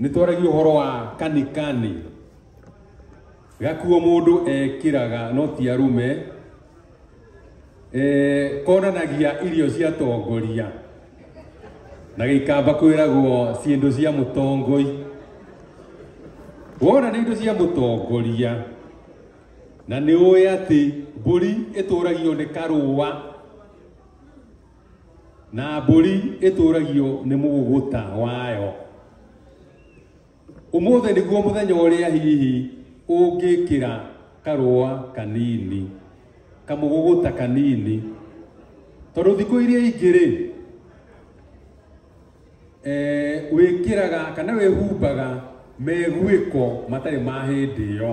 nä twaragia å horo wa kanikani gakuo må ndå ekiraga no ti arume eh, konanagia irio cia tongoria na gĩikamba kwĩragwo ciĩndũ cia mũtongoi wona nĩ indo cia mũtongoria na nĩ ũĩ atĩ mbũri ĩtũragio nĩ karũa na mbũri ĩtũragio nĩ mũgũgũta wayo ũmũthĩ nĩguo mũthenya ũrĩa hihi ũngĩkĩra karũa kanini kamũgũgũta kanini tondũ thikũ iria ingĩ rĩ eh, wĩkĩraga kana wĩhumbaga meguĩko matarĩ ma hĩndĩ ĩyo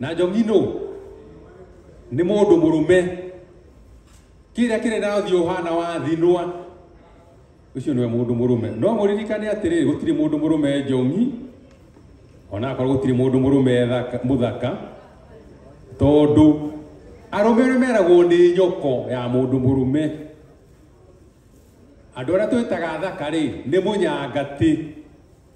na njongi nũ nĩ mũndũ mũrũme kĩrĩa kĩrĩ na ũthiũ ũhana wa thinwa ũcio nĩwe mũndũ mũrũme no mũririkane atĩrĩ gũtirĩ mũndũ mũrũme njongi ona akorwo gũtirĩ mũndũ mũrũme thaka- mũthaka tondũ arũme arĩa meragwo nĩ nyoko ya mũndũ mũrũme andå arä a twä taga thaka rä nä må nyangatĩ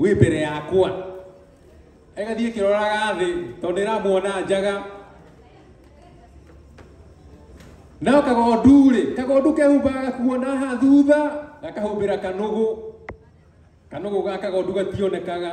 wĩ mbere yakwa ĩgathiĩ ĩkĩroraga thĩ tondũ ĩramuona njaga nao kagondu rĩ kagondu kehumbaga gakuona haha thutha gakahumbĩra kanũgũ kanũgũ ga kagondu gationekaga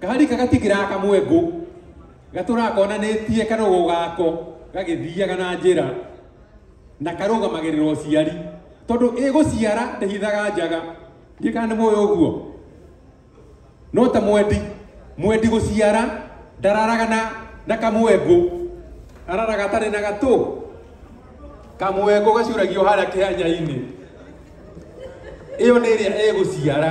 Kaharika gatigiraga kamwengu gatũraga konanĩtie karũgũ gako gagĩthiaga na njĩra na karũgamagĩrĩra ũciari tondũ ĩgũciara ndĩhithaga njaga ndiĩ kana nĩ mũĩ ũguo no ta mwendi mwendi gũciara ndararaga na na kamwengu araraga atarĩ na gatũ kamwengu gacuragio harĩa kĩhanya-inĩ ĩyo nĩ ĩrĩa ĩgũciara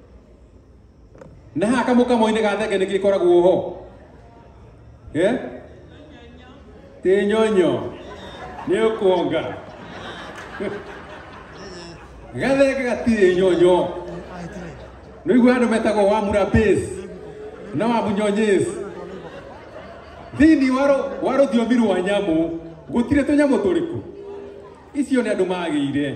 na haha kamũkamoinĩ ga thenge nĩkĩ koragwo ho Eh? tĩnyonyo nĩ ũkuonga gathenge gatirĩ nyonyo nä igua andå metagwo wa murapes na wa munyonyes thini wa rå thiomi rwa nyamå gå tirä tå nyamå tå rä kå icio nä andå magä ire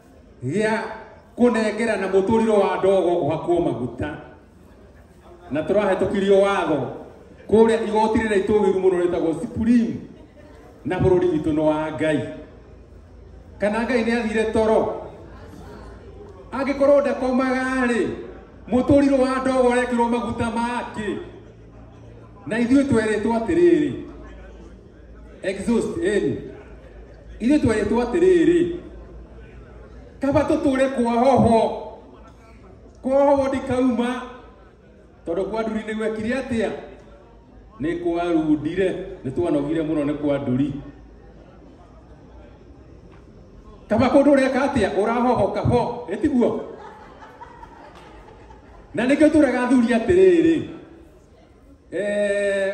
gĩa kũnengerana mũtũrĩro wa ndogo ũhakwo maguta na tũrahetũkirio watho kũrĩa igoti rĩrĩa itũgĩru mũno rĩtagwo Supreme na bũrũri witũ nĩ wa Ngai kana Ngai nĩ athire toro angĩkorwo ndakomaga rĩ mũtũrĩro wa ndogo ũrekĩrwo maguta make na ithuĩ twerĩtwo atĩrĩrĩ exhaust eni ithuĩ twerĩtwo atĩrĩrĩ kaba tũtũre kwa hoho kwa hoho ndikauma tondũ kwa nduri nĩ gwekire atĩa nĩ kwarundire nĩ twanogire mũno nĩ kwa nduri kaba kũndũ ũreka atĩa ũrahohoka ho ĩtiguo na nĩkĩo tũrega athuri atĩrĩrĩ eh,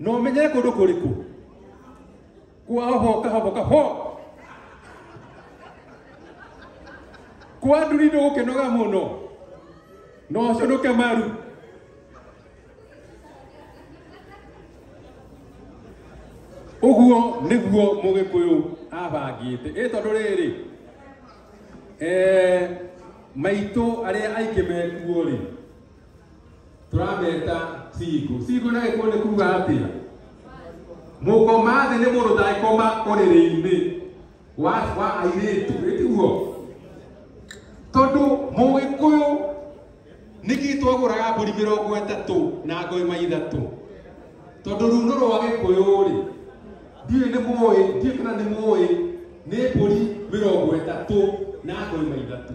na ũmenyere kũndũ kũrĩkũ kwa hoho kahoho kahoho kwa nduri ndũgũkĩnoga mũno na ũcũnũke maru ũguo nĩguo mũgĩkũyũ abangĩte ĩ tondũ rĩrĩ eh, maitũ arĩa aingĩ mekuo rĩ tũrameta cigo cigo na gĩkũyũ nĩ kuga atĩa mũkoma thĩ nĩ mũndũ ndangĩkoma ũrĩrĩ-inĩ wa wa airĩtu ĩtiguo tondũ mũgĩkũyũ nĩkĩ twagũraga mbũri mĩrongo ĩtatũ na ngoima ithatũ tondũ runo rwa gĩkũyũ-rĩ ndiũĩ nĩ mũĩ ndiũĩ kana nĩ mũĩ nĩ mbũri mĩrongo ĩtatũ na ngoima ithatũ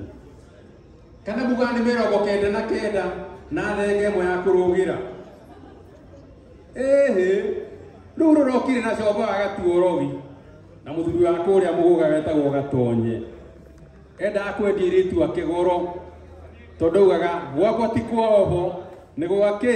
kana muga nĩ mĩrongo kenda na kenda na thenge ĩmwe ya kũrũgĩra ĩhĩ rĩu rũrokire na combo wa gatuorogi na mũthuri wa kũrĩa mũgũga wetagwo gatonye endaga kwendia irĩtu ake goro tondũ augaga gwakwa ti kwa oho nĩ gwakĩ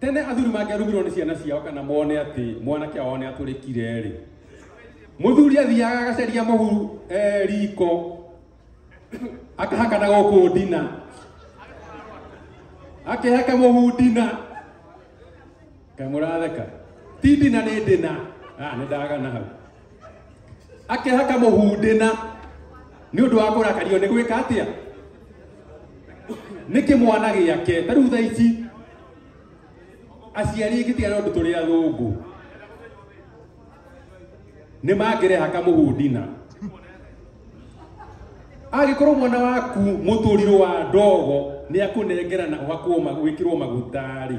tene athuri mangĩarumirwo nĩ ciana ciao kana mone atĩ mwanake ao nĩ atũrĩkire rĩ mũthuri athiaga agacaria mũhu eh, riko akahaka na gũkũ ndina akĩhaka mũhu ndina kamũratheka ti ndina nĩ ndina Ah, nĩ ndagana hau akehaka mũhundĩna nĩ ũndũ wa kũrakario nĩ gwĩka atĩa nĩ kĩmwana gĩake ta rĩu thaa ici aciari aingĩ tiga nĩ ũndũ tũrĩ athũngũ nĩ mangĩreha kamũhundina agĩkorwo mwana waku mũtũrirũ wa ndogo nĩ akũnengerana ũhakwo ma- wĩkĩrwo maguta-rĩ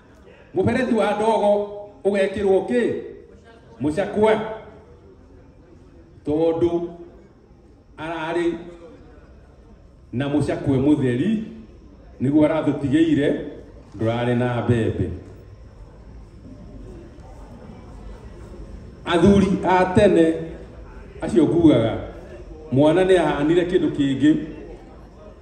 mubereti wa ndogo ugekirwo ki mucakwe tondu arari na mucakwe mutheri niguo arathutigĩire ndurarĩ na mbembe athuri a tene acio ngugaga mwana nĩ ahanire kĩndũ kĩngĩ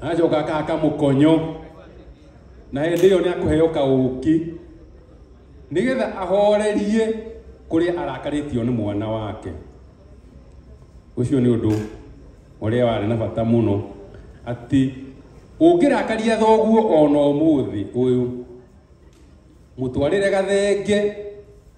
acoka akahaka mũkonyo na hĩndĩ ĩyo nĩ akũheo kaũki nĩgetha ahorerie kũrĩa arakarĩtio nĩ mwana wake ũcio nĩ ũndũ ũrĩa warĩ na bata mũno atĩ ũngĩrakaria thoguo ona ũmũthĩ ũyũ mũtwarĩre gathenge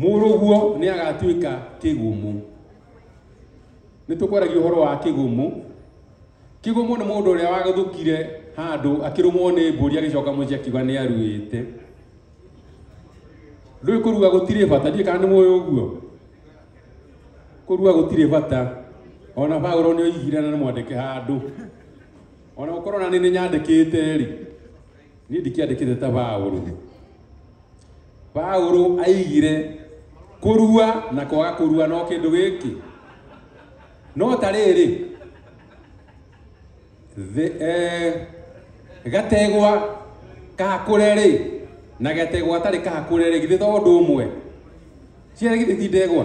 Mũrũguo nĩ agatuĩka kĩgumu. Nĩ tũkwaragia ũhoro wa kĩgumu. Kĩgumu nĩ mũndũ ũrĩa wagũthũkire handũ akĩrũmwo nĩ mbũri agĩcoka mũciĩ akiuga nĩ aruĩte. Ndũĩ kũrua gũtirĩ bata, ndiĩ kana nĩ mũĩ ũguo. Kũrua gũtirĩ bata. Ona Paulo nĩ oigire na nĩ mwandĩke handũ. Ona gũkorwo na nĩ nyandĩkĩte rĩ, niä ndikĩandĩkĩte ta baũrũ baũrũ aigire kũrua na kwaga kũrua no kĩndũ gĩkĩ no ta rĩrĩ the- eh, gategwa kahakũre rĩ na getegwa atarĩ kahakũre rĩ githĩ to ũndũ ũmwe ciarĩ githĩ ti ndegwa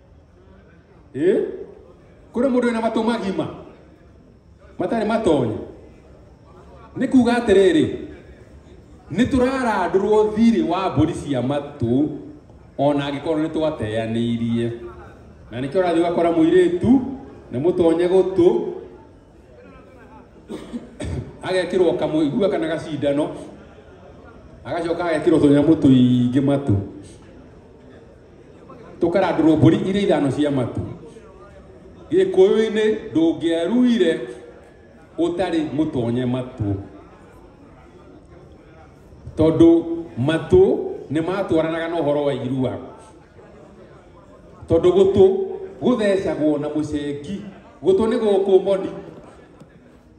Eh? Kũrĩ mũndũ wĩna matũ magima matarĩ matonye nĩ kuga atĩrĩrĩ nĩ tũrarandũrwo thirĩ wa mbũri cia matũ ona angĩkorwo nĩ twateanĩirie na nĩkĩo ũrathiĩ ũgakora mũirĩtu nĩ mũtonye gũtũ agekĩrwo kamũigua kana gacindano agacoka agekĩrwo tũnyamũ tũingĩ matũ tũkarandũrwo mbũri iria ithano cia matu gĩkũyũ-inĩ ndũngĩaruire ũtarĩ mũtonye matũ tondũ matũ nĩ matwaranaga na ũhoro wa irua tondũ gũtũ gũthecagwo na mũcengi gũtũ nĩ gũkũ moni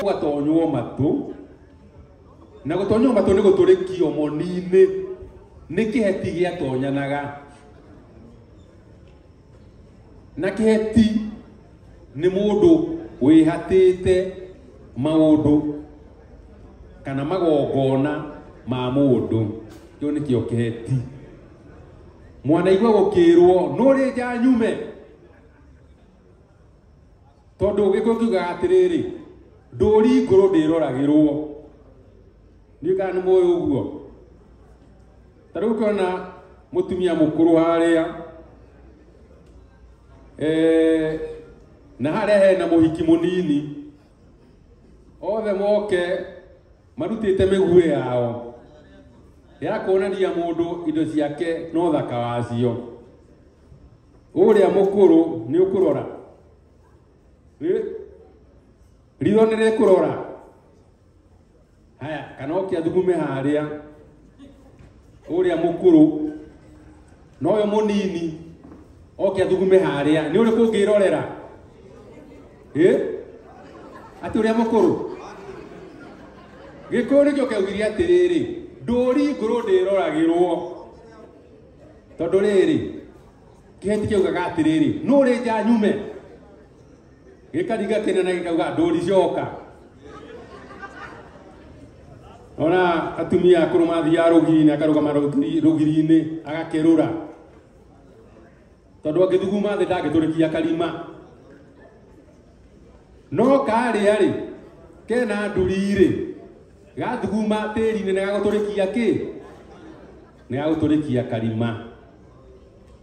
gũgatonywo matũ na gũtonywo matũ nĩ gũtũrĩkio moni-inĩ nĩ kĩheti gĩatonyanaga na keheti nĩ mũndũ wĩhatĩte maũndũ kana magongona ma mũndũ kĩu nĩkĩo keheti mwanaigua gũkĩrwo nũrĩ nja nyume tondũ gĩkũ kiugaga atĩrĩrĩ ndũri ngũrũ ndĩroragĩrwo nĩ kana nĩ mũĩ ũguo ta rĩu ũkĩona mũtumia mũkũrũ harĩa eh, na harĩa hena mũhiki mũnini othe moke marutĩte mĩguĩ yao ya kuonania mũndũ indo ciake no thaka wacio ũrĩa mũkũrũ nĩ ũkũrora Ĩ- ritho nĩ rĩkũrora haya kana oke athugume haria uria mukuru na uyu munini oke athugume haria ni uriku ngirorera eh ati uria mukuru gikuyu nikio keugirie atiriri nduri nguru ndiroragirwo tondu riri kiheti kiugaga atiriri nuri nja nyume gĩkariga kĩnene gĩkauga ndũri coka ona atumia akũrũ mathiaga rũgiri-inĩ akarũgama rũgiri- rũgiri-inĩ agakerũra tondũ angĩthuguma thĩ ndangĩtũrĩkia karima no karĩa-rĩ kena nduri-rĩ gathuguma tĩri-inĩ nĩ gagũtũrĩkia kĩ nĩ gagũtũrĩkia karima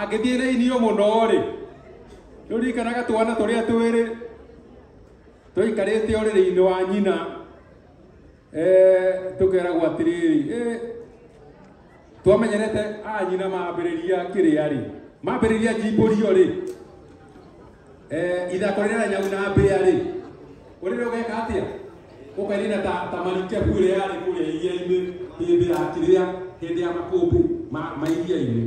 angĩthiĩ na inio mũno-rĩ nĩũririkanaga twana tũrĩa twĩrĩ tũikarĩte ũrĩrĩ-inĩ wa nyina eh, tũkeragwo atĩrĩrĩ eh, twamenyerete a nyina mambĩrĩria kĩrĩa-rĩ mambĩrĩria njimbũrio-rĩ Eh, ithako rĩrĩa nyau na mbĩa rĩ ũrĩrĩ ũgeka atĩa ũkainina ta ta marikebu ĩrĩa yarĩ kũrĩa iria-inĩ hĩndĩ ya kĩrĩa hĩndĩ ya makũmbĩ ma ma iria-inĩ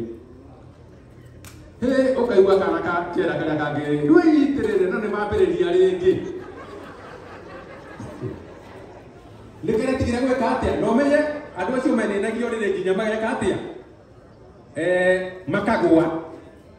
hĩ ũkaigua kana ka kera karĩa kangĩrĩ ndwĩitĩrĩre no nĩ mambĩrĩria rĩngĩ nĩ kĩrĩa tigire gwĩka atĩa na ũmenye andũ acio menenagio rĩrĩ nginya mageka atĩa Eh, makagwa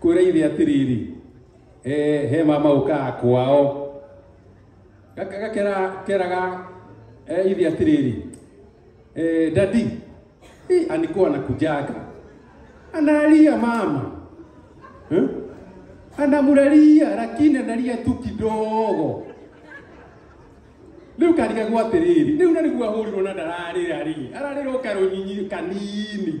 kwä ra ithe atiriri eh, he mama å kaa kwao Gaka- gakera keraga eh, ithe atiriri eh, dadi eh, anikuwa nakujaka analia mama eh? anamuraria lakini analia tu kidogo riu kariga gwa atiriri riu na niguo ahũrirwo na ndararĩra rĩ ararĩra ũkarũnyinyi kanini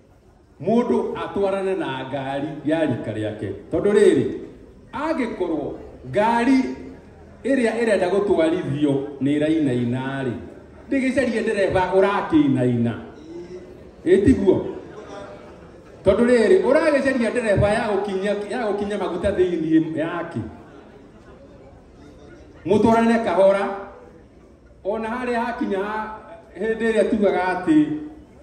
mundu atwarane na ngari ya rika riake tondu riri angikorwo ngari iria irenda gutwarithio ni irainaina ri ndigicarie ndereba urakinaina itiguo tondu riri uragicaria ndereba ya gukinya ya gukinya maguta thiini yake mutwarane kahora ona haria hakinya ha- hindi iria tugaga ati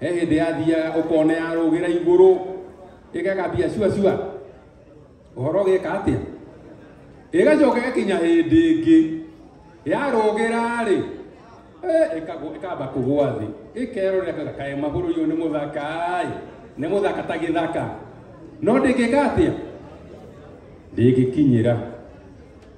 he hĩndĩ yathiaga ũkona yarũgĩra igũrũ ĩgakambia cua cua ũhoro ũgĩka atĩa ĩgacoka ĩgakinya hĩndĩ ĩngĩ yarũgĩra rĩ ĩkamba kũgwa thĩ ĩkerorera kwĩra kaĩ magũrũ iyo nĩ mũthaka ĩ nĩ mũthaka ta gĩthaka no ndĩngĩka atĩa ndĩngĩkinyĩra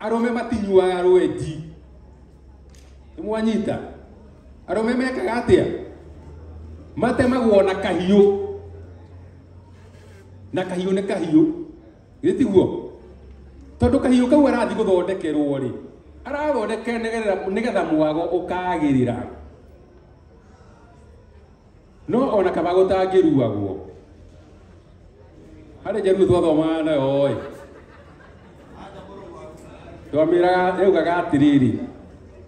arũme matinyuaga rwenji nĩ mwanyita arũme mekaga atĩa matemagwo na kahiũ na kahiũ nĩ kahiũ gĩtiguo tondũ kahiũ kau arathiĩ gũthondekerwo rĩ arathondekera nĩgetha mwago ũkagĩrĩra no ona kana gũtangĩruagwo harĩ njaruo twathomaga nayo ĩ twamĩraga yaugaga atĩrĩrĩ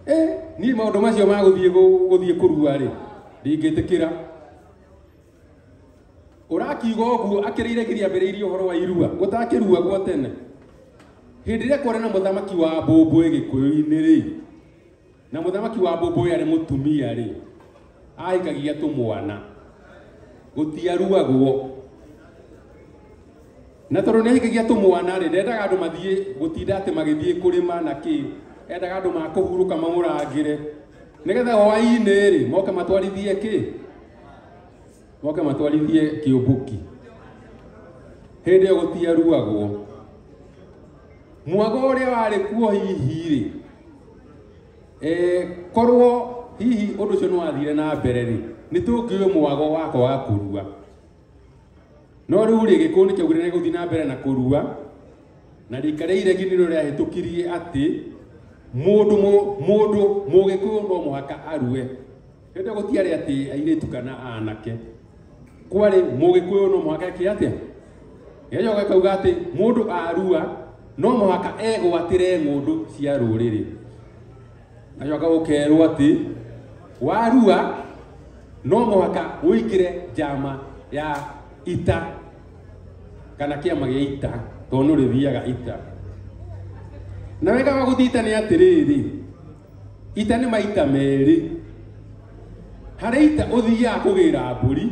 "Eh, niĩ maũndũ macio ma gũthiĩ gũ- gũthiĩ kũrua rĩ ndingĩtĩkĩra ũrakiuga ũguo akĩrĩire nginya ambĩrĩirie ũhoro wa irua gũtakĩruagwo tene hĩndĩ ĩrĩa kwarĩ na mũthamaki wa mbũmbũĩ gĩkũyũ-inĩ rĩ Na mũthamaki wa mbũmbũĩ arĩ mũtumia-rĩ, ahikagia tũmwana, gũtiaruagwo. Na tondũ nĩ ahikagia tũmwana-rĩ, ndendaga andũ mathiĩ gũtinda atĩ magĩthiĩ kũrĩma na kĩ, endaga andũ makũhurũka mamũrangĩre, nĩgetha hwaĩ-inĩ-rĩ, moke matwarithie kĩ, moke matwarithie kĩũmbuki hĩndĩ ĩyo gũtiaruagwo mwago ũrĩa warĩ kuo hihi-rĩ eh, korwo hihi ũndũ ũcio nĩwathire na mbere-rĩ nĩ tũngĩũĩ mwago wako wa kũrua no rĩu-rĩ gĩkũũ nĩ kĩaugire nĩ gũthiĩ na mbere na kũrua na rika rĩa iregi nĩrĩo rĩahĩtũkirie atĩ mũndũ mũ- mũndũ mũgĩkũyũ no mũhaka arue Hĩndĩ ĩyo gũtiarĩ atĩ airĩtu kana aanake, kwarĩ mũgĩkũyũ no mũhaka eke atĩa? Gejo gakauga atĩ mũndũ arua no mũhaka egwatĩre ng'ũndũ cia rũrĩrĩ. Gacoka gũkerwo atĩ warua no mũhaka ũingĩre njama ya ita kana kĩama gĩa ita tondũ nĩ ũrĩthiaga ita. Na wega wa gũthiĩ ita nĩ atĩrĩrĩ, Ita nĩ maita merĩ. Harĩ ita ũthiaga kũgĩra mbũri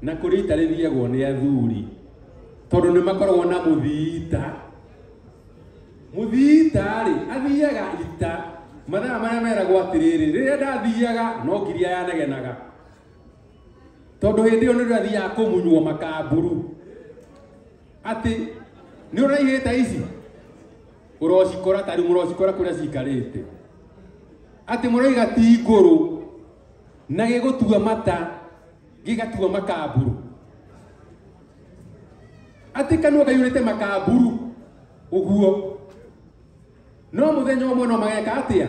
na kũrĩ ita rĩthiagwo nĩ athuri tondũ nĩ makoragwo na mũthiita. Mũthiita-rĩ, athiaga ita mathaa marĩa meragwo atĩrĩrĩ, rĩrĩa ndathiaga no ngiria yanegenaga tondũ hĩndĩ ĩyo nĩrĩo athiaga kũmunywo makamburu atĩ nĩ ũraihĩte ici Mũrocikora ta rĩu mũrocikora kũrĩa cikarĩte. Atĩ mũroiga ti ngũrũ na gĩgũtua mata gĩgatua makamburu. Atĩ kanua kaiyũrĩte makamburu ũguo. No mũthenya ũmwe no mageka atĩa?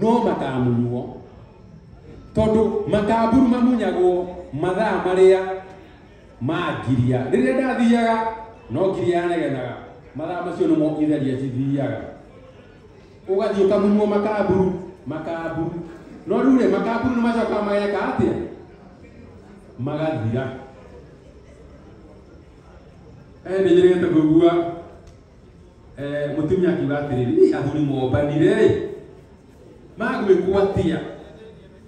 no makamunywo tondũ makamburu mamunyagwo mathaa marĩa ma ngiria rĩrĩa ndathiaga no ngiria yanegenaga mathaa macio nĩmo itheria cithiaga ũgathiĩ ũkamunywo makamburu makamburu no rĩu rĩ makamburu nĩ macokaga mageka atĩa magathira eh nĩ njĩrĩgĩte kũigua Eh, mũtumia akiuga atĩrĩ "Niĩ athuri mombanire rĩ magwĩkwo atĩa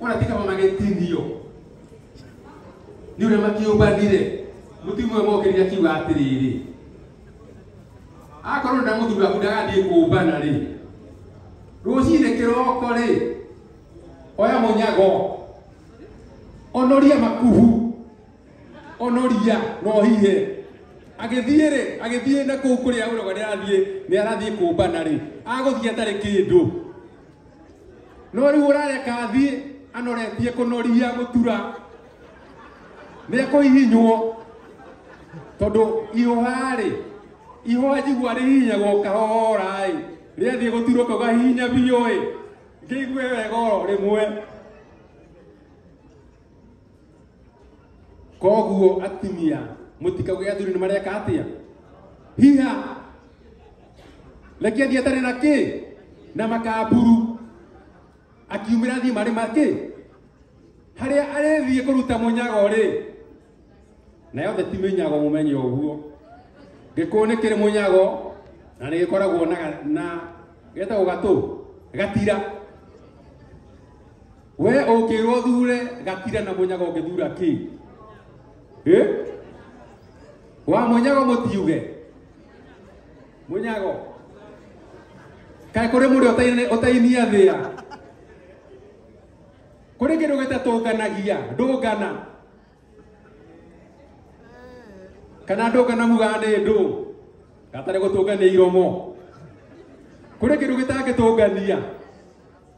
ona ti kama magĩtinio nĩ ũrĩa makĩũmbanire mũtumia ũyũ mokĩrire akiuga atĩrĩrĩ akorwo nĩ ndamũthuri waku ndagathiĩ kũmbana rĩ rũcinĩ kĩroko rĩ oya mũnyago onoria makuhu onoria no hihe agĩthiĩ rĩ agĩthiĩ na kũu kũrĩa ũroga nĩ arathiĩ nĩ arathiĩ kũmbana rĩ agũthiĩ atarĩ kĩndũ no rĩu ũrareka athiĩ anoretie kũnoria gũtura nĩ ekũhihinywo tondũ ihũha rĩ ihũha njigua rĩhihinyagwo kahora ĩ rĩathiĩ gũturwo kau gahihinya biũ ĩ ngĩigue wega oro rĩmwe koguo atumia mũtikauge athuri nĩ mareka atĩa hiha reke thiĩ atarĩ na kĩ na makamburu akiumĩra thiĩ marĩ makĩ harĩa arĩthiĩ kũruta mũnyago rĩ na yothe ti mĩnyago mũmenye ũguo gĩkũũ nĩ kĩrĩ mũnyago na nĩ gĩkoragwo na, na getagwo gatũ gatira we ũngĩrwo thure gatira na mũnyaga ũngĩthura kĩ Eh? wa mũnyago mũtiuge mũnyago kaĩ kũrĩ mũrĩ ũtaine- ũtainia thĩa kũrĩ kĩndũ gĩtatũnganagia ndũngana kana ndũngana mugaga nĩ ndũ gatarĩ gũtũngania iromo kũrĩ kĩndũ gĩtangĩtũngania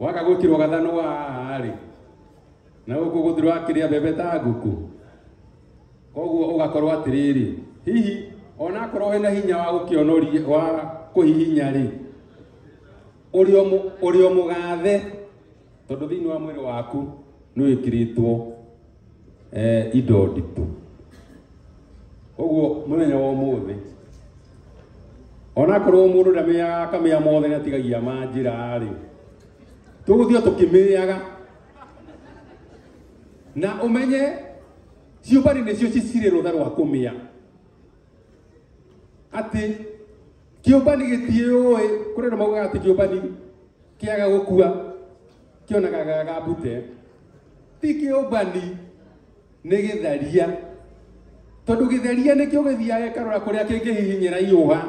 Waga gutirwo gathano warĩ na guku guthirwo akiria mbembe ta nguku koguo ugakorwo atiriri hihi ona akorwo wena hinya wa gukionoria wa kuhihinya ri uri o mugathe tondu thiini wa mwiri waku ni wikiritwo eh, indo nditũ ũguo mũthenya wa ũmũthĩ onakorwo mũndũ ndamĩaga akamĩa mothe natigagia ma njĩra rĩ tũgũthiĩ tũkĩmĩaga na ũmenye ciũmbanĩ nĩcio cicirĩ rũtha rwa kũmĩa atĩ kĩũmbani gĩtiũĩ kũrĩ na maugaga atĩ kĩũmbani kĩaga gũkua kĩonaga ga gambute ti kĩũmbani nĩ gĩtharia tondũ gĩtharia nĩkĩo gĩthiaga gĩkarora kũrĩa kĩngĩhihinyĩra iũha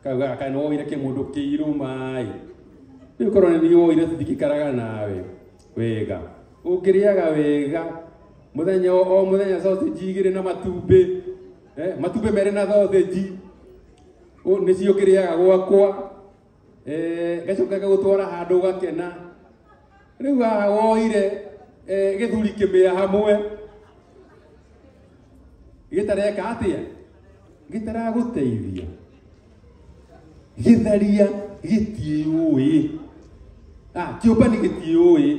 kauga kana woire kĩmũndũ kĩirũ maĩ rĩu korwo nĩ woire tũtikikaraga nawe wega ũngĩrĩaga wega mũthenya o o mũthenya sausage igĩrĩ na matumbĩ eh, matumbĩ merĩ na sausage nĩcio kĩrĩaga gwakwa gacoka gagũtwara handũ ũgakena rĩu haha woire gĩthuri kĩmĩa hamwe gĩtareka atĩa gĩtaragũteithia gĩtharia gĩtiũĩ kĩũmbani gĩtiũĩ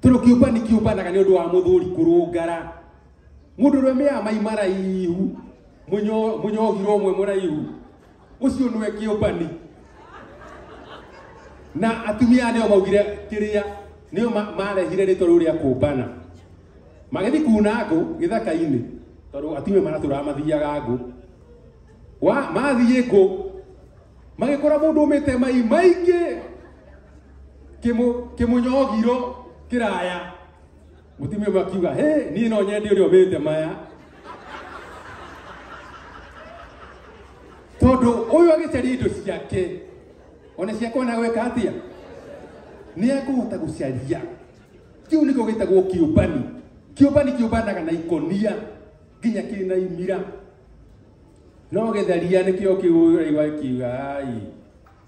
tondũ kĩũmbani kĩũmbanaga nĩ ũndũ wa mũthuri kũrũngara mũndũ ũrĩa mĩya mai maraihu mũnyogirwo ũmwe mũraihu ucio nwe kiumbani na atumia nio maugire kiria nio marehire ritwa riu ria kumbana magithi kuna ngu githaka-ini tondu atumia maraturaga mathiaga ngu wa mathiĩ ngũ magĩkora mũndũ ũmĩte mai maingĩ kĩmũ kĩmũnyogiro kĩraya mutumia ũmwe akiuga he niĩ no nyende ũrĩa ũmĩte maya tondũ ũyũ agĩcaria indo ciake ona ciakwa na gwĩka atĩa nĩ ekũhota gũcaria kĩu nĩkĩo gĩtagwo kĩũmbani kĩũmbani kĩũmbanaga na ikonia nginya kĩna imira no gĩtharia nĩkĩo kĩũraigua kiuga ai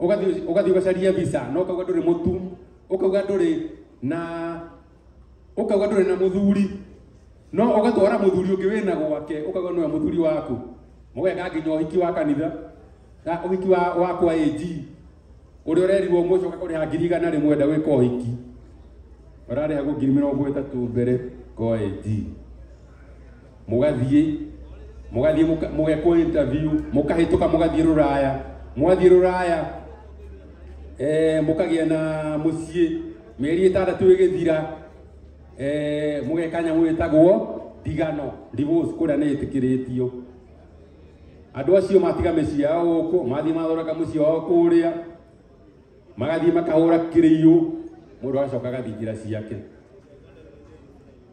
Ũgathiĩ ũgathiĩ ũgacaria visa no kauga ndũrĩ mũtu, ũkauga ndũrĩ na ũkauga ndũrĩ na mũthuri no ũgatwara mũthuri ũngĩ wĩna gwake ũkauga nĩwe mũthuri waku mũgeka nginya ũhiki wa kanitha na ũhiki wa wakwa AG ũrĩa ũrerirwo mũcoka kũrĩha ngiri igana rĩmwe enda gwĩka ũhiki ũrarĩhagwo ngiri mĩrongo ĩtatũ mbere kwa AG mũgathiĩ mũgathiĩ mũka- mũgekwo interview mũkahĩtũka mũgathiĩ rũraya mwathiĩ rũraya eh, mũkagĩa na mũciĩ mĩeri ĩtandatũ ĩgĩthira eh, mũgeka nyamũ ĩtagwo ndigano divorce kũrĩa nĩ ĩtĩkĩrĩtio andũ acio matiga mĩciĩ yao gũkũ mathiĩ mathondeka mũciĩ wao kũrĩa magathiĩ makahũra kĩrĩiyũ mũndũ agacoka agathiĩ njĩra ciake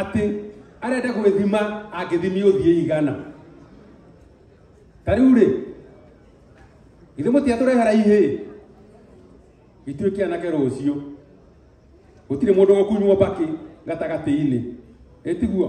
atĩ arenda gwĩthima angĩthimi ũthiĩ igana ta rĩu rĩ ithe mũtiatũrehera ihĩ ituĩke anake rũciũ gũtirĩ mũndũ gũkunywo mbakĩ gatagatĩ-inĩ ĩtiguo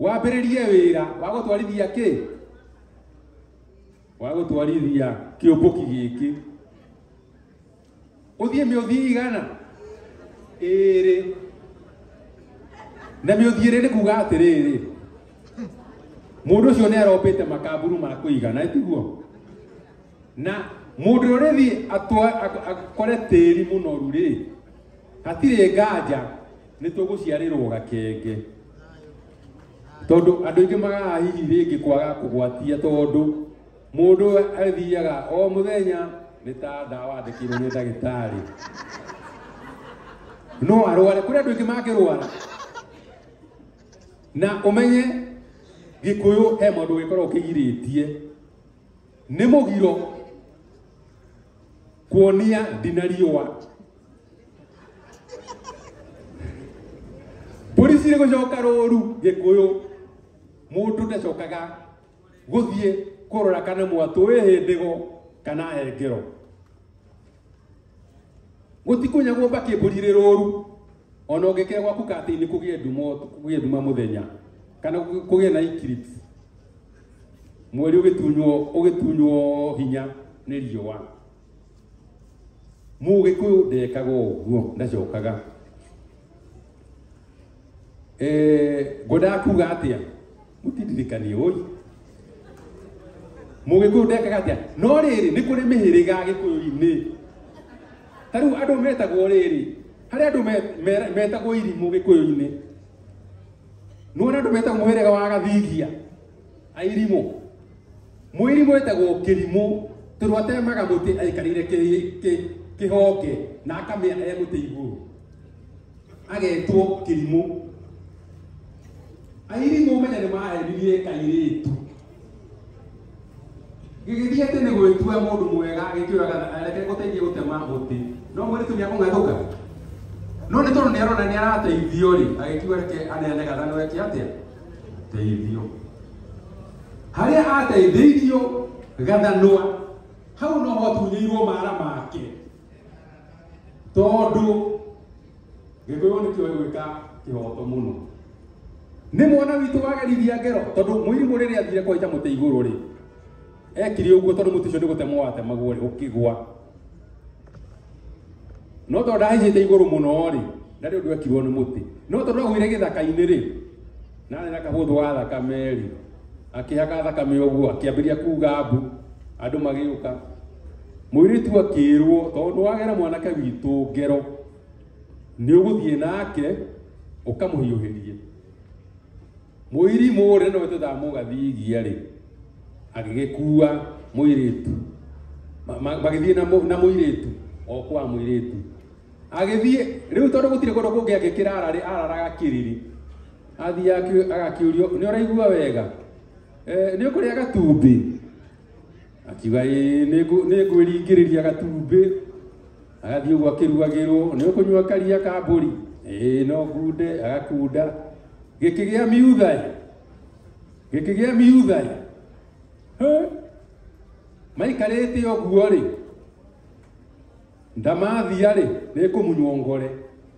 wambĩrĩrie wĩra wa gũtwarithia kĩ wa gũtwarithia kĩũmbũki gĩkĩ ũthiĩ mĩũthi igana ĩrĩ na mĩũthi ĩrĩ nĩ kuga atĩrĩrĩ mũndũ ũcio nĩ arombĩte makaburu ma kũigana tiguo na mundu urithi akore tiri munoru ri hatire nganja ni tuguciarirwo gakenge tondu andu ingi magaga hihi ringi kwaga kugwatia tondu mundu athiaga o muthenya ni ta ndawa andikirwo ni ndagitari no arware kuri andu ingi mangirwara na umenye gikuyu he mundu wikorwo kigiritie nĩ mũgiro kuonia ndina riũa mbũri cirĩ gũcoka rũru gĩkũyũ mũndũ ndacokaga gũthiĩ kũrora kana mwatũ wĩ hĩndĩgo kana engero gũtikunyagwo mbakĩ mbũri rĩ rũru ona ũngĩkĩra gwaku katĩ-inĩ kũgĩe nduma ũtukũ- kũgĩe nduma mũthenya kana kũ- kũgĩe na eclipse mweri ũgĩtunywo ũgĩtunywo hinya nĩ riũa mũgĩkũyũ ndekaga ũguo ndacokaga Eh, ngwendaga kuga atia mutindirikanie oi mugikuyu ndekaga atia no riri ni kuri mihiriga gikuyu-ini ta riu andu metagwo riri hari andu me- me- metagwo irimu gikuyu-ini nuona andu metagwo muhiriga wa gathigia airimu mwirimu etagwo kirimu tondu atemaga muti aikarire ki- ki- kihonge na akamea e muti iguru agetwo kĩrimũ airimũ ũmenye nĩ mahenirie kairĩtu gĩgĩthiĩ atĩ nĩ gwĩtua mũndũ mwega gĩkĩũraga reke gũteithie gũtema mũtĩ no mũirĩtu nĩ akũng'athũka no nĩ tondũ nĩ arona nĩ arateithio rĩ agĩkiuga reke aneane gathano eke atĩa teithio harĩa ateithĩirio gathanwa hau no ho atunyĩirwo mara make tondu gikuyu ni kiwe gwika kihoto muno ni mwana witu wagerithia ngero tondu muirimu riri athire kwaita muti iguru ri ekire uguo tondu muti ucio ni gutemwo watemagwo ri ukigwa no tondu ndahaicite iguru muno ri ndari undu ekirwo ni muti no tondu agwire githaka-ini ri na arĩ na kahũthũ ga thakame-rĩ akĩhaka thakame ũguo akĩambĩrĩria kuga mbu andũ magĩũka mũirĩtu akĩrwo tondũ wagera mwanake witũ ngero nĩ ũgũthiĩ nake ũkamũhiũhĩrie mũirimũ rĩ no twethaa mũgathigia rĩ agĩgĩkua mũirĩtu Ma- ma- magĩthiĩ na mũ- na mũirĩtu o kwa mũirĩtu agĩthiĩ rĩu tondũ gũtirĩ kũndũ kũngĩ angĩkĩra ararĩ araraga kĩrĩrĩ athiĩ akĩ- agakĩũrio nĩ ũraigua wega Eh, nĩ ũkũrĩa gatumbĩ akiuga "Ĩĩ, nĩngũ- nĩngwĩringĩrĩria gatumbĩ agathiĩ ũguo akĩruagĩrwo nĩ ũkũnyua karia ka mbũri ĩĩ no ngunde agakunda gĩkĩgĩa miutha ĩ. gĩkĩgĩa miutha ĩ. Hĩ? maikarĩte ũguo rĩ Ndamathia-rĩ, nĩkũmunywo ngore.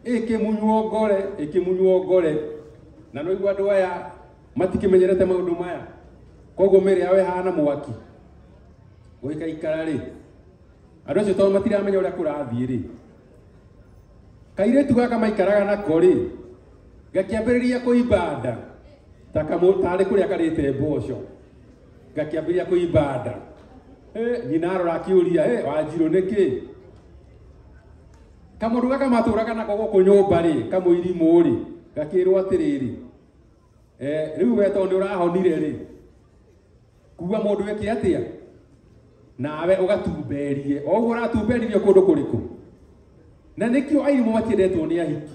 Ĩkĩmunywo ngore, ĩkĩmunywo ngore. Na no igua andũ aya matikĩmenyerete maũndũ maya. Koguo mĩĩrĩ yao ĩhana mwaki. Gũgĩkaikara-rĩ, andũ acio tondũ matiramenya ũrĩa kũrathiĩ-rĩ, kairĩtu gaka maikaraga nako-rĩ, gakĩambĩrĩria kũimba nda ta kamũ- tarĩ kũrĩa karĩte mboco. ngakĩambĩrĩria kũimba nda Eh, nyina arora akĩũria "Eh, wanjirũ nĩkĩ kamũndũ gaka matũraga nako gũkũ nyũmba rĩ kamũirimũ rĩ gakĩrwo atĩrĩrĩ eh, rĩu we tondũ nĩ ũrahonire rĩ kuga mũndũ eke atĩa nawe ũgatumberie o ũguo ũratumberirie kũndũ kũrĩkũ na nĩkĩo airimo matiendetwo nĩ ahiki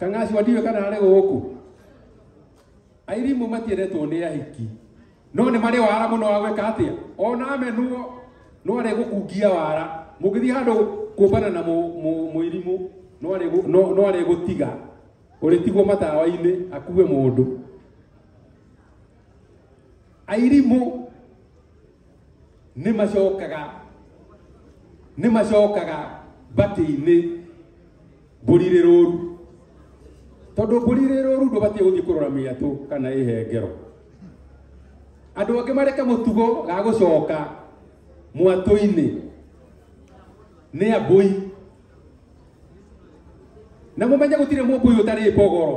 kang'acio ndiwe kana arĩ gũkũ Airimũ matiendetwo nĩ ahiki no nĩ marĩ wara mũno wa gwĩka atĩa ona amenwo no arĩ gũkungia wara mũngĩthiĩ handũ kũmbana na mũirimũ no arĩ gũtiga ũrĩtigwo matawa-inĩ akue mũndũ airimũ nĩ macokaga nĩ macokaga batĩ-inĩ mbũri rĩ rũru tondũ mbũri rĩ rũru ndũbatiĩ gũthiĩ kũrora mĩatũ kana ĩhengero andũ angĩ mareke mũtugo ga gũcoka mwatũ-inĩ nĩ ambũi na mũmenye gũtirĩ mũmbũi ũtarĩ mbogoro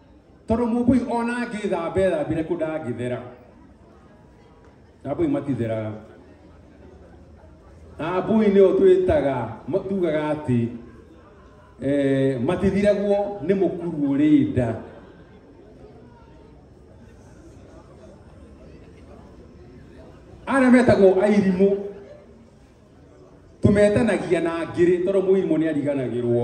Tondũ mũmbũi ona angĩthamba ethambire kũ ndangĩthera. Ambũi matitheraga. Ambũi nĩo twĩtaga tugaga atĩ eh, matithiragwo nĩ mũkuru ũrĩ nda. Arĩa metagwo airimũ tũmetanagia na ngĩrĩ tondũ mũirimũ nĩ ariganagĩrwo.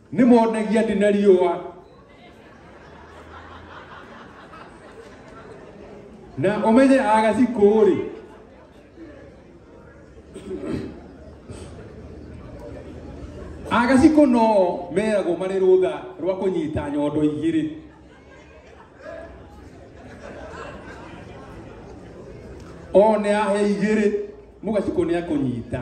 nĩ monagia ndĩ na riũa na ũmenye agacikũũrĩ agacikũ no meragwo marĩ rũtha rwa kũnyita nyondo igĩrĩ o nĩ ahe igĩrĩ mũgacikũ nĩ akũnyita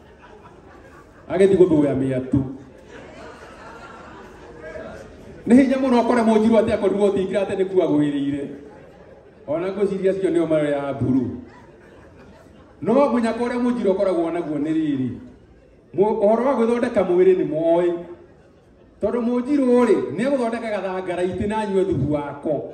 agethi gå thå ya mä atu nä hinya må no kore må njirwo atä akorirwo tingira atä nä kuwa gå ä rä ire ona ngå ciria cio nä o mayo ya mburu no munya kore må njirwo koragwo naguo nä rä rä Mu- ũhoro wa gwĩthondeka mwĩrĩ nĩ moĩ tondũ mũnjirũ rĩ nĩ egũthondeka gathangara itĩ na anyue thubu wako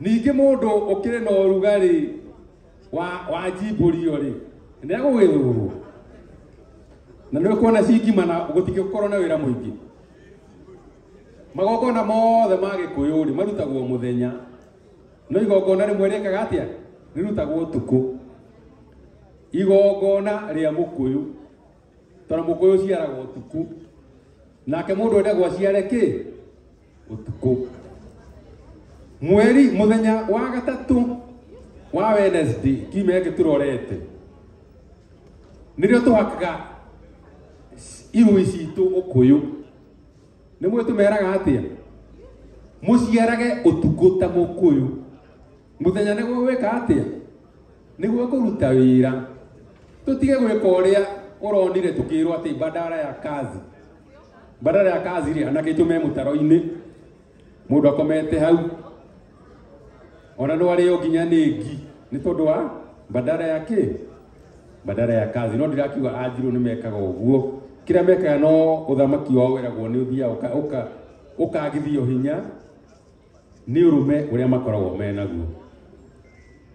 ningĩ mũndũ ũkĩrĩ na ũrugarĩ wa wa njimbũrio rĩ nĩ agũgĩthũrwo na nĩ ũkuona cingima na gũtigĩkorwo na wĩra mũingĩ magongona mothe ma gĩkũyũ rĩ marutagwo mũthenya no igongona rĩmwe rĩkaga atĩa rĩrutagwo ũtukũ igongona rĩa mũkũyũ tondũ mũkũyũ ũciaraga ũtukũ nake mũndũ endagwo aciare kĩ utuku mweri muthenya wa gatatu wa Wednesday kiumia gĩkĩ tũrorete nĩrĩo tũhakaga irui citũ ũkũyũ nĩ mwĩ tũmeraga atĩa mũciarage ũtukũ ta mũkũyũ mũthenya nĩguo gwĩka atĩa nĩguo kũruta wĩra tũtige gwĩka ũrĩa ũronire tũkĩrwo atĩ bandara ya kazi badala ya kazi ile anake itume mutaro-inĩ mũndũ akomete hau ona no arĩo nginya nĩ ngi nĩ tondũ wa badala ya kĩ badala ya kazi no ndirakiuga anjirũ nĩ mekaga ũguo kĩrĩa mekaga no ũthamaki wao weragwo nĩ ũthiaga ũka- ũka- ũkagithio hinya nĩ ũrũme ũrĩa makoragwo me naguo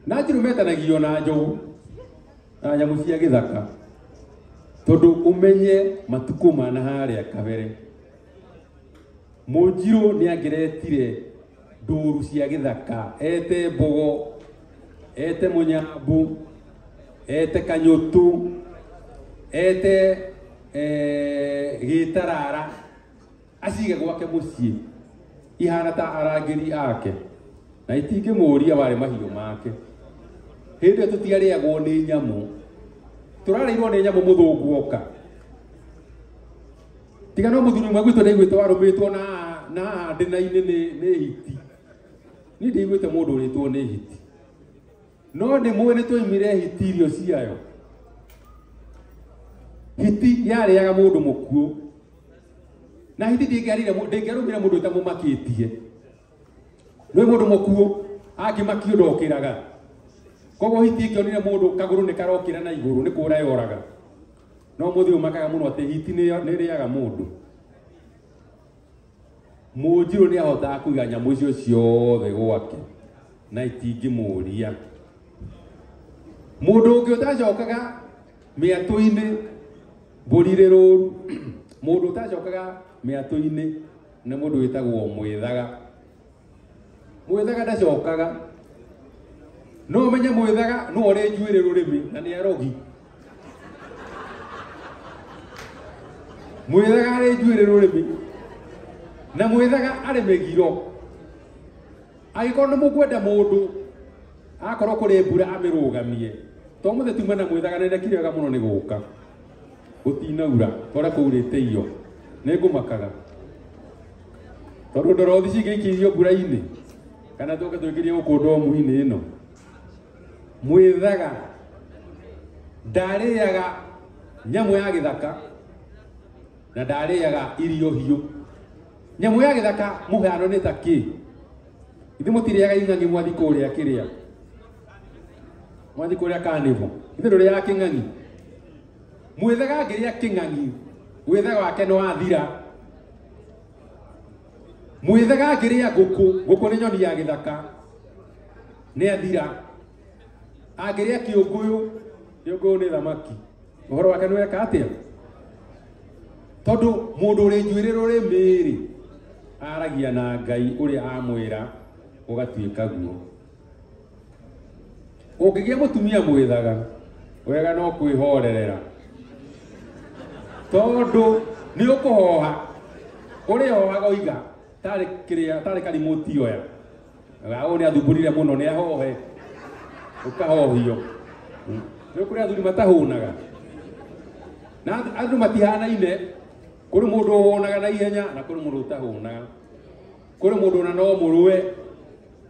na njirũ metanagio na njogu na nyamũ cia gĩthaka tondũ ũmenye matukũ ma na harĩa kabere mũnjirũ nĩ angeretire ndũru cia gĩthaka ete mbogo ete mũnyambu ete kanyũtũ ete eh, gĩtarara acige gwake mũciĩ ihana ta arangĩri ake na itingĩmũũria warĩ mahiũ make hĩndĩ ĩyo tũtiarĩagwo nĩ nyamũ tũrarĩirwo nĩ nyamũ mũthũngũ oka tiga no mũthuri ũmwe gwitũ ndaiguĩte warũmĩtwo na na ndĩna-inĩ nĩ nĩ hiti niĩ ndaiguĩte mũndũ ũrĩtwo nĩ hiti No nĩ mũĩ nĩ twoimire hiti irio ciayo. Hiti yarĩaga mũndũ mũkuũ. Na hiti ndĩngĩarire mũ- ndĩngĩarũmire mũndũ ĩtamũmakĩtie. Nĩ mũndũ mũkuũ angĩmakio ndokĩraga. Koguo hiti ĩngĩonire mũndũ kagũrũ nĩ karokĩra na igũrũ nĩ kũra yoraga. No mũthĩ ũmakaga mũno atĩ hiti nĩ nĩ ĩrĩaga mũndũ. Mũnjirũ nĩ ahotaga kũiga nyamũ icio ciothe gwake na itingĩmũria. Mũndũ ũngĩ ũtacokaga mĩatũ-inĩ mbũri irĩ rũru, mũndũ ũtacokaga mĩatũ-inĩ nĩ mũndũ wĩtagwo mwĩthaga. mwĩthaga ndacokaga no ũmenye mwĩthaga no ũrĩ njuĩrĩ rũrĩmĩ na nĩ arogi mwĩthaga arĩ njuĩrĩ rũrĩmĩ na mwĩthaga arĩ mĩgiro agĩkorwo nĩ mũkwenda mũndũ akorwo kũrĩ mbura amĩrũgamie to mũthĩ tuma na mwĩthaga nĩ ndekire wega mũno nĩ gũka gũtinaura kora kũurĩte iyo nĩ ngũmakaga tondũ ndorothi cingĩikĩirio mbura-inĩ kana tũke tũingĩrie gũkũ ndomu-inĩ ĩno mwĩthaga ndarĩaga nyamũ ya gĩthaka na ndarĩaga irio hiũ nyamũ ya gĩthaka mũhano nĩ ta kĩ ithe mũtirĩaga ing'ang'i mwathi kũrĩa kĩrĩa mwathi kå rä a kanävo ithe ndå rä yaga kä ng'ang'i mwäthega ngä rä a kä ng'ang'i wĩthega wake nĩ wathira mwĩthega ngĩ rĩa ngũkũ ngũkũ nĩ nyoni ya gĩthaka nĩ athira angĩrĩa kĩũngũyũ kĩũngũyũ nĩ thamaki ũhoro wake nĩ weka atĩa tondũ mũndũ ũrĩ njuĩrĩ rũrĩmĩ-rĩ aragia na ngai ũrĩa amwĩra gũgatuĩka guo ũngĩgĩa mũtumia mwĩthaga wega no kwĩhorerera tondũ nĩ ũkũhoha ũrĩhohaga oiga tarĩ kĩrĩa tarĩ karimũ tioya gaũ nĩ athumburire mũno nĩ ahohe ũkahohio rĩu kũrĩ athuri matahũnaga na andũ matihanaine kũrĩ mũndũ ũhũnaga na ihenya na kũrĩ mũndũ ũtahũnaga kũrĩ mũndũ ona no mũrũe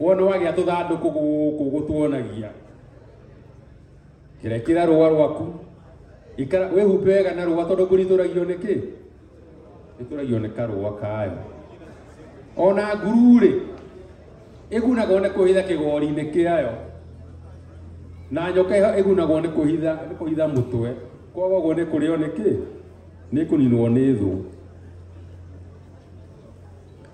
wona wagĩa tũthandũkũ gũkũ gũtuonagia kĩrekĩra rũa rwaku ikara wĩhumbe wega na rũa tondũ mbũri itũragio nĩ kĩ itũragio nĩ karũa kayo ona nguru-rĩ ĩgunagwo nĩ kũhitha kĩgori-inĩ kĩayo na nyoka ĩyo ĩgunagwo nĩ kũhitha nĩ kũhitha mũtwe koguo nĩ kũrĩo nĩ kĩ nĩ kũninwo nĩ thũ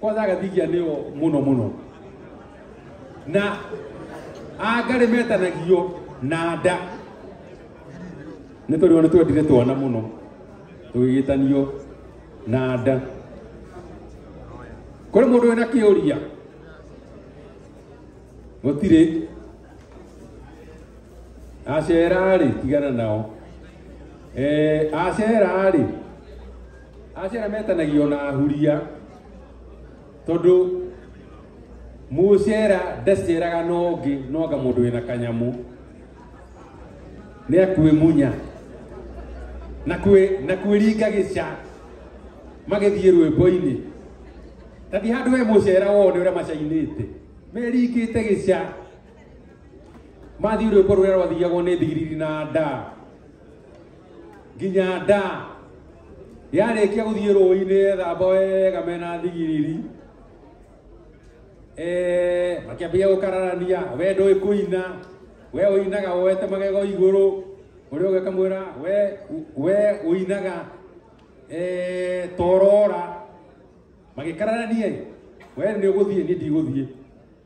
kwanza agathigia nĩo mũno mũno na angarĩ metanagio na nda nĩ tondũ nĩ twendire twana mũno tũgĩgĩtanio na nda kũrĩ mũndũ wĩna kĩũria gũtirĩ acera-rĩ tigana nao Eh, acera-rĩ Aciara metanagio na huria tondũ mũcera ndaceraga na ũngĩ no anga mũndũ wĩna kanyamũ nĩ akwĩmunya na kwĩ na kwĩringa gĩca magĩthiĩ rwĩmbo-inĩ tathi handũ we mũcera wone ũrĩa macainĩte meringĩte gĩca mathiĩ rwĩmbo rũrĩa rwathiagwo nĩ thigiriri na ndaa nginya nda yarĩkia gũthiĩ rũĩ-inĩ ethamba wega mena thigiriri Eh, makĩambia gũkararania we ndũĩ kũina we ũinaga woete magego igũrũ ũrĩa ũngĩ akamwĩra we we ũinaga eh, torora magĩkararania we nĩ ũgũthiĩ niĩ ndigũthiĩ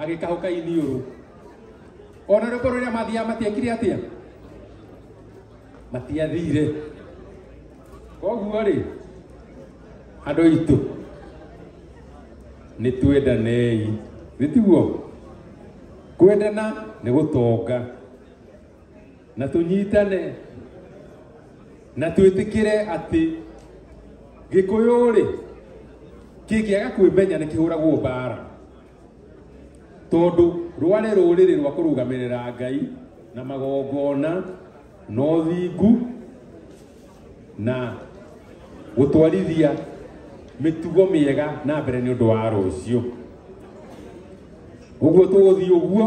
agĩkahũka iniũrũ ona rĩko rĩrĩa mathiaga matiekire atĩa matiathire koguo rĩ andũ aitũ nĩ twendanei nĩ tiguo kwendana nĩ gũtonga na tũnyitane na twĩtĩkĩre atĩ gĩkũyũ-rĩ kĩngĩaga kwĩmenya nĩ kĩhũragwo mbara tondũ rwarĩ rũrĩrĩ rwa kũrũgamĩrĩra ngai na magongona na ũthingu na gũtwarithia mĩtugo mĩega na mbere nĩ ũndũ wa rũciũ ũguo tũgũthiĩ ũguo